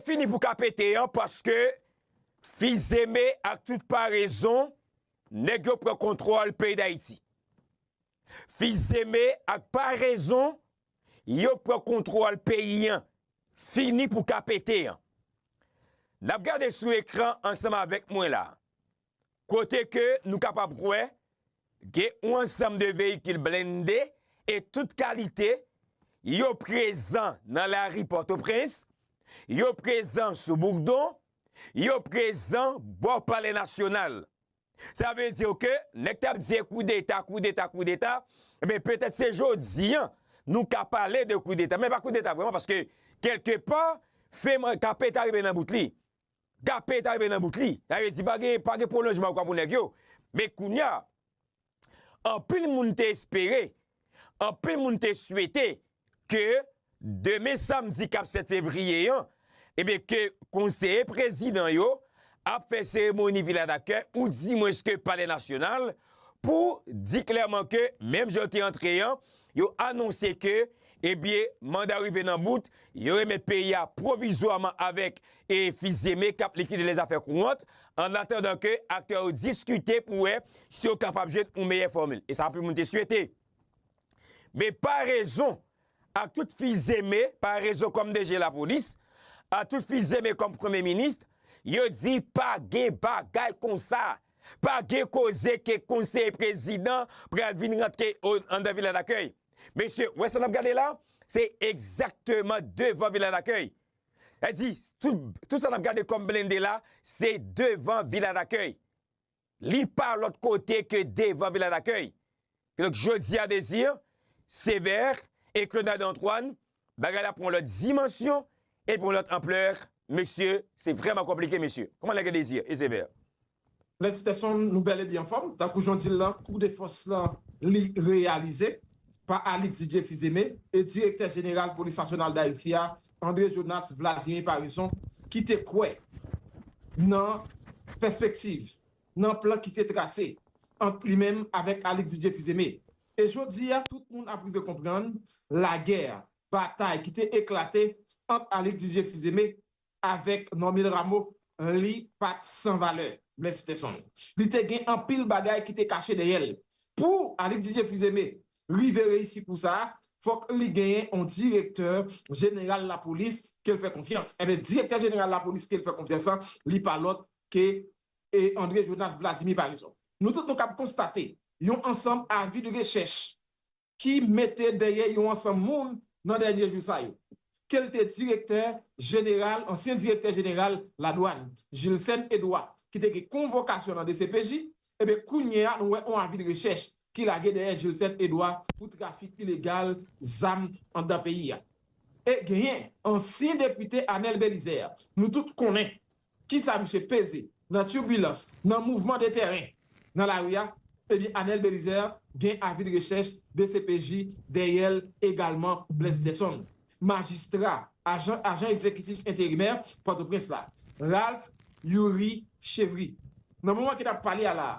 Fini pou ka pete an paske Fils-Aimé ak tout parezon nèg yo pran kontwòl peyi Dayiti. Fils-Aimé ak parezon yo pran kontwòl peyi an. Fini pou ka pete an. N ap gade sou ekran ansanm avèk mwen la. kote ke nou kapab kwè gen yon ansanm de veyikil blende e tout kalite, yo prezan nan lari Pòtoprens, yo prezan sou Boukdon, yo prezan bò Palè Nasyonal. Sa vle di ke nèg kap di koudeta, koudeta, koudeta, enben petèt se jodi an nou ka pale de koudeta, men pa koudeta vreman paske kèlke pa, fèm, kape ta rive nan bout li. Gape ta rive nan bout li, ta rive di pa gen pa gen pwolonjman ankò pou nèg yo, men kounya anpil moun te espere, anpil moun te swete ke demen samdi kap 7 fevriye an ebyen ke konseye prezidan yo ap fè seremoni vila dakè ou di mwens ke palè nasyonal pou di klèman ke menm jan yo te antre an Yo anonse ke ebyen manda rive nan bout, yo remèt peyi a pwovizwaman avèk e Fils-Aimé kap likide lè zafè kouwant, ann atandan ke aktè yo diskite pou wè si yo kapab jwenn yon meyè fòmil. E sa anpil moun te swete. Men pa rezon ak tout Fils-Aimé, pa rezon kòm DG lapolis, ak tout Fils-Aimé kòm Premye Minis, yo di pa gen bagay konsa. Pa gen koze ke konseye prezidan pral vin rantre andan vila dakèy. Mesye, wè sa nap gade la? Se egzakteman devan vila dakèy. Sa di, tout sa nap gade kòm blende la, se devan vila dakèy. Li pa lòt kote ke devan vila dakèy. Donk jodi a Désir, Sévère et Claudade Antoine bagay la pran yon lòt dimansyon e pran yon lòt ampleur mesye se vrèman konplike mesye. Kòman nèg yo Désir et Sévère? Mèsi Tèson, nou bèl ebi anfòm. Tankou jan w di l lan, kou de fòs lan li reyalize pa Alix Didier Fils-Aimé e Direktè Jeneral Polis Nasyonal Dayiti a, André Jonas Vladimir Paraison ki te kwè nan pèspektiv nan plan ki te trase ant li menm avèk Alix Didier Fils-Aimé. E jodi a tout moun ap rive konprann lagè, batay ki te eklate ant Alix Didier Fils-Aimé avèk Normil Rameau li pa t san valè. Blaise Peterson. Li te gen anpil bagay ki te kache dèyè l. Pou Alix Didier Fils-Aimé rive reyisi kou sa, fòk li genyen yon direktè jeneral lapolis ke l fè konfyans. Enben, direktè jeneral lapolis ke l fè konfyans lan, li pa lòt ke André Jonas Vladimir parizonp. Nou tout nou kab konstate yon ansanm avi de rechèch ki mete dèyè yon ansanm moun nan dènye jou sa yo. Ke l te direktè jeneral, ansyen direktè jeneral ladwann, Gilcène Edouard, ki te gen konvokasyon nan dcpj, eben kounye a nou wè on avi de rechèch ki lage dèyè Jilsèn Edwa pou trafik ilegal zam anndan peyi a. E genyen ansyen depite Anèl Belizè, nou tout konnen kisa misye peze nan turbilans, nan mouvman de tèren nan lari a, ebyen Anèl Belizè gen avi de rechèch dcpj dèyè l egalman Blaise Gerson, majistra ajan ajan egzekitif enterimè Pòtoprens la, Ralph Youri Chevry. Nan moman ki n ap pale a la a.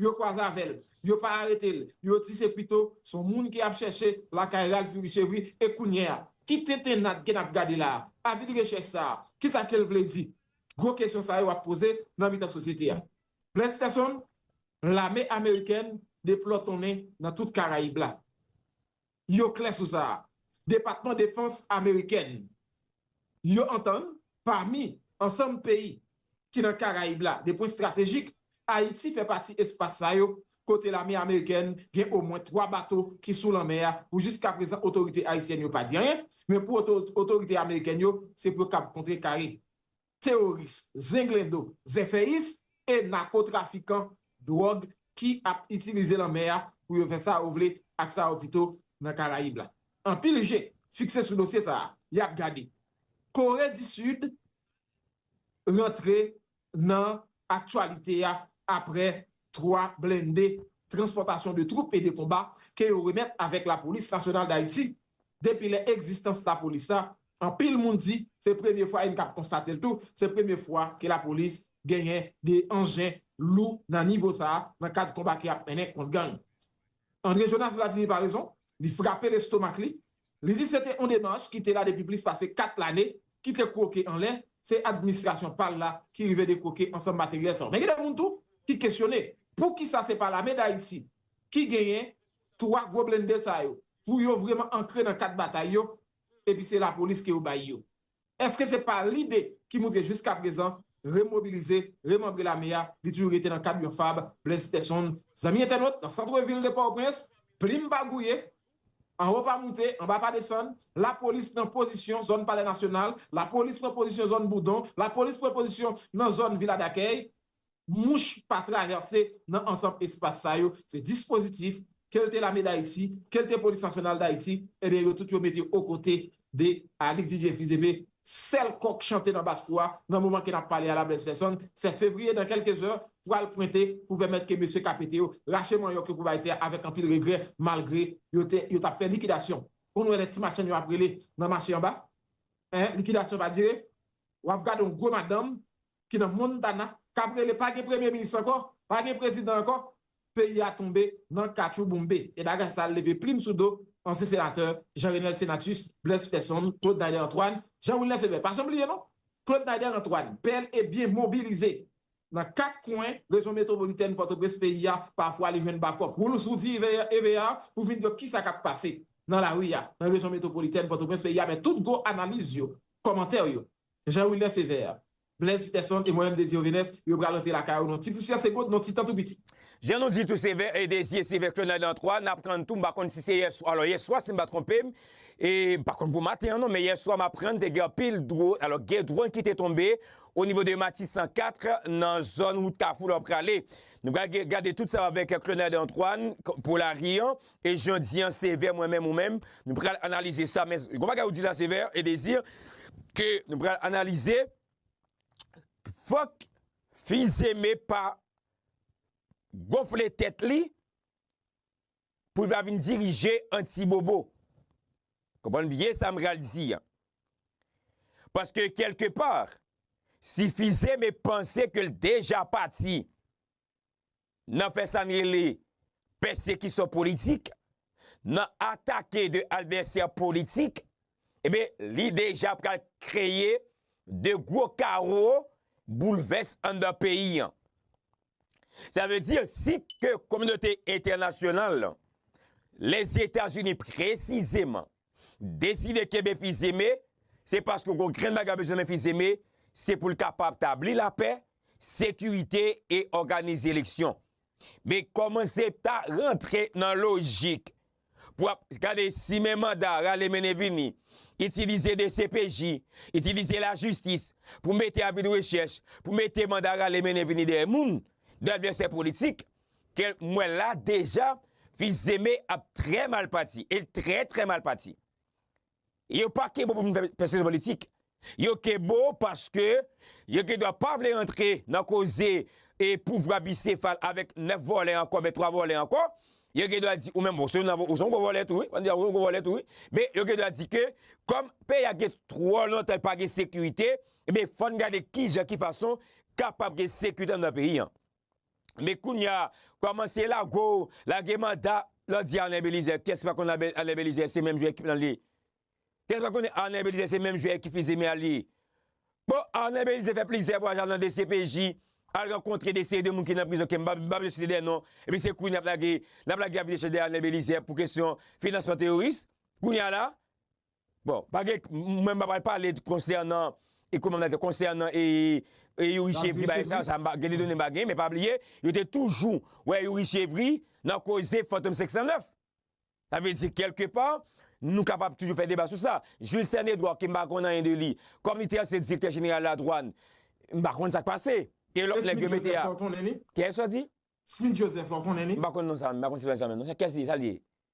Yo kwaze avè l, yo pa arete l, yo di se pito s on moun ke y ap chèche lakay Ralph Jurichévry e kounye a, ki tenten n adge n ap gade la a? Avid rechèch sa a, ki sa ke l vle di? Gwo kesyon sa yo ap poze nan mitan sosyete a. Bless Therson, Lame amerikèn deplòtonnen nan tout Karayib la. yo klè sou sa a. Depatman Defans amerikèn yo antann pami ansanm peyi ki nan Karayib la de pwen estratejik, Ayiti fè pati espas sa yo kote lame amerikèn gen omwen 3 bato ki sou lanmè a pou jiska prezan otorite ayisyèn yo pa di anyen, men pou otorite amerikèn yo se pou yo kab kontrekare. teworis, zenglendo, zèfèyis e nakotrafikan dwòg ki ap itilize lanmè a pou yo fè sa yo vle ak sa yo pito nan Karayib la. Anpil je fikse sou dosye sa a, y ap gade Kore di Sid rantre nan aktyalite a apre 3 blende transpòtasyon de twoup e de konba ke yo remèt avèk Lapolis Nasyonal Dayiti. Depi lè egzistans Lapolis la, anpil moun di se premye fwa e n kab konstate l tou, se premye fwa ke Lapolis genyen de anjen lou nan nivo sa a nan kad konba ke y ap mennen kont gang. Andre Jonas Vladimir pa rezon, li frape lestomak li, Li di se te yon demach ki te la depi plis pase 4 lane, ki te kwoke anlè, se administrasyon pa l la ki rive dekwoke ansanm materyèl sa yo. Men gen de moun tou ki kesyone poukisa se pa lame Dayiti ki genyen 3 gwo blende sa yo pou yo vreman ankre nan kat batay yo epi se lapolis ke yo bay yo. Eske se pa lide ki motive jiska prezan remobilize, remanbre lame a, li toujou rete nan kad yon fab Blaise Peson, zanmi entènot nan santre vil de Pòtoprens, plim pa gouye, anwo pa moute, anba pa desann, lapolis pran pozisyon zòn palè nasyonal, lapolis pran pozisyon zòn boudon, lapolis pran pozisyon nan zòn vila dakèy, mouch pa travèse nan ansanm espas sa yo, se dispozitif, ke l te Lame Dayiti, ke l te Polis Nasyonal Dayiti, ebyen yo tout yo mete o kote de Alix Didier Fils-Aimé, sèl kò k chante nan bas kou a, nan moman ke n ap pale a la Blaise Felson, 7 fevriye dan kèlke zè, pral pwente pou pèmèt ke mesye k a pete yo rache manyòk yo pou bay tè a avèk anpil regrè, malgre yo te yo t ap fè likidasyon. Konn wè lè ti machann yo ap rele nan mache anba, 1 likidasyon pa dire, w ap gade yon gwo madanm ki nan Montana kap rele pa gen premye minis ankò, pa gen prezidan ankò, peyi a tonbe nan katchouboumbe. E bagay sa leve plim sou do ansyen senatè Jean Renel Senatus, Blaise Peterson, Claude Nader Antoine, Jean Wilner Sever. Pa janm bliye non, Claude Nader Antoine, pèl e byen mobilize nan 4 kwen rejyon metwopolitèn Pòtoprens peyi a, pafwa li jwenn bakòp Woolos Woody Evear pou vin di yo kisa kap pase nan lari a nan rejyon metwopolitèn Pòtoprens peyi a men tout gwo analiz yo, kòmantè yo, Jean Wilner Sévère, Blaise Peterson et Mohaim Désir Vénès yo pral antre lakay ou nan ti pousyè segond nan ti tan tou piti. Jan nou di tou Sévère et Désir se vètyè nan nan 3 nap prann tou m pa konn si se yèswa alò yèswa si m pa twonpe m e m pa konn pou maten an non men yèswa m aprann te gen anpil dro alò gen dronn ki te tonbe o nivo de Matisan 4 nan zòn wout Kafou lè w prale nou pral gade tout sa avèk Clonel Antoine pou lari an. E jodi an Sevè mwen menm ou menm nou pral analize sa men gon bagay ou di la Sevè e Désir ke nou pral analize fòk Fils-Aimé pa gonfle tèt li pou li pa vin dirije Antibobo. Konprann byen sa m pral di an. Paske kelke pa si Fils-Aimé panse ke l deja pati nan fè sa n rele pèsekisyon politik, nan atake de advèsè politik, enben li deja pral kreye de gwo kawo boulvès anndan peyi an. Sa vle di si ke kominote entènasyonal, Lèzetazini presizeman, deside kenbe Fils Aimé, se paske w konn grenn bagay w bezwen nan Fils Aimé, se pou l kapab tabli lapè, sekirite e òganize eleksyon. Men kòmanse ta rantre nan lojik pou ap gade si men manda rale mennen vini, itilize dcpj, itilize lajistis pou mete avi de rechèch, pou mete manda rale mennen vini dèyè moun, dèyè advèsè politik. Ke m wè la deja fils Zeme ap trè mal pati el trè trè mal pati yo pa ke bo pou vin fè pèskizyon politik yo ke bo paske yo ke dwa pa vle antre nan koze e pouvwa bisefal avèk 9 vòlè ankò ben 3 vòlè ankò yo ke dwa di ou menm bon se ou nan ou son gwo vòlè tou wi an di a ou son gwo vòlè tou wi men yo ke dwa di ke kòm peyi a gen twò lontan pa gen sekirite men fòn gade kijan ki fason kapab gen sekirite nan peyi an. Men kounya kòmanse lago w, lage manda, lè w di Arnel Belizaire, kiyès ki pa konn Arnel Belizaire se menm jwè ekip lan l ye? Kiyès ki pa konn Arnel Belizaire se menm jwè ekip Fils-Aimé a l ye? Bon, Arnel Belizaire fè plizyè vwayaj al nan dcpj, al rankontre de seri de moun ki nan prizon ke m pa bezwen site dè non, epi se kounya n ap lage, n ap lage avi de chèch dèyè Arnel Belizaire pou kesyon finansman teworis, kounya la. Bon, pa gen, mwen m pa pral pale konsènan e kouman mwen ta di, konsènan e Youri Chevry bagay sa, sa m pa, gen de done m pa genyen, men pa bliye, yo te toujou wè Youri Chevry nan koze Fantom 509. Sa vle di kèlke pa, nou kapab toujou fè deba sou sa. Jules Cène Edouard ke m pa konn anyen de li, kòm li te ansyen direktè jeneral ladwann, m pa konn sa k pase. E lòt nèg yo mete a. E Smith Joseph sa w konnen li? Kiyès ou di? Smith Joseph la w konnen li? M pa konn non sa, m pa konn sitwayen sa menm non. Kiyès li, sa l ye?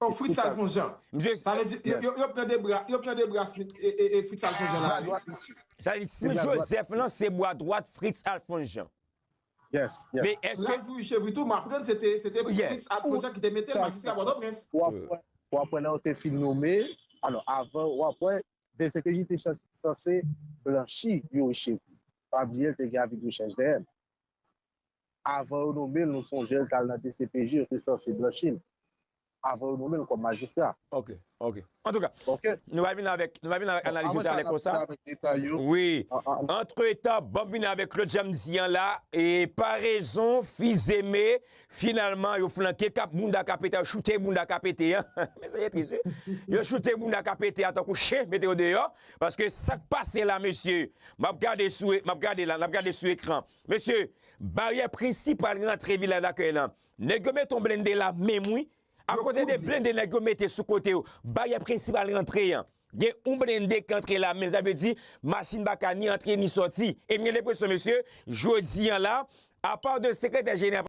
Oh Fritz Alfonjean sa vle di yo pran debra yo pran debra Smith e Fritz Alfonjean la ale. Sa vle di Smith Joseph lan se bwa dwat Fritz Alfonjean. Ralph Richer vre tou m aprann se te Fritz Alfonjean ki te mete l majistra Pòtoprens. Ou aprann lè yo te fin nome alò avan ou aprann DCPJ te sanse blanchi Youri Chevry. Pa bliye l te gen avi de rechèch dèyè l. Avan yo nome l, nou sonje l t al nan dcpj, yo te sanse blanchi l. Avan yo nome l kòm majistra. Ok, ok. Antouka, nou va vini avèk analiz yo talè konsa. Wi. Antretan, banm vini avèk lòt jan m di an la, e parezon, fizeme, finalman yo flanke kap bounda ka pete, yo choute bounda ka pete an. Men sa ki tris wi. Yo choute bounda ka pete a tankou chen, mete yo deyò. Paske sa k pase la mesye, m ap gade sou, m ap gade la, n ap gade sou ekran. Mesye, baryè prensip pral rantre vila dakèy lan. Nèg yo met on blende la menm wi. A kote de blende nèg yo mete sou kote yo, baryè prensip pral rantre an. Gen on blende k antre la menm sa vle di machin pa ka ni antre ni sòti. E m gen lepresyon mesye, jodi an la, apa de sekretè jeneral.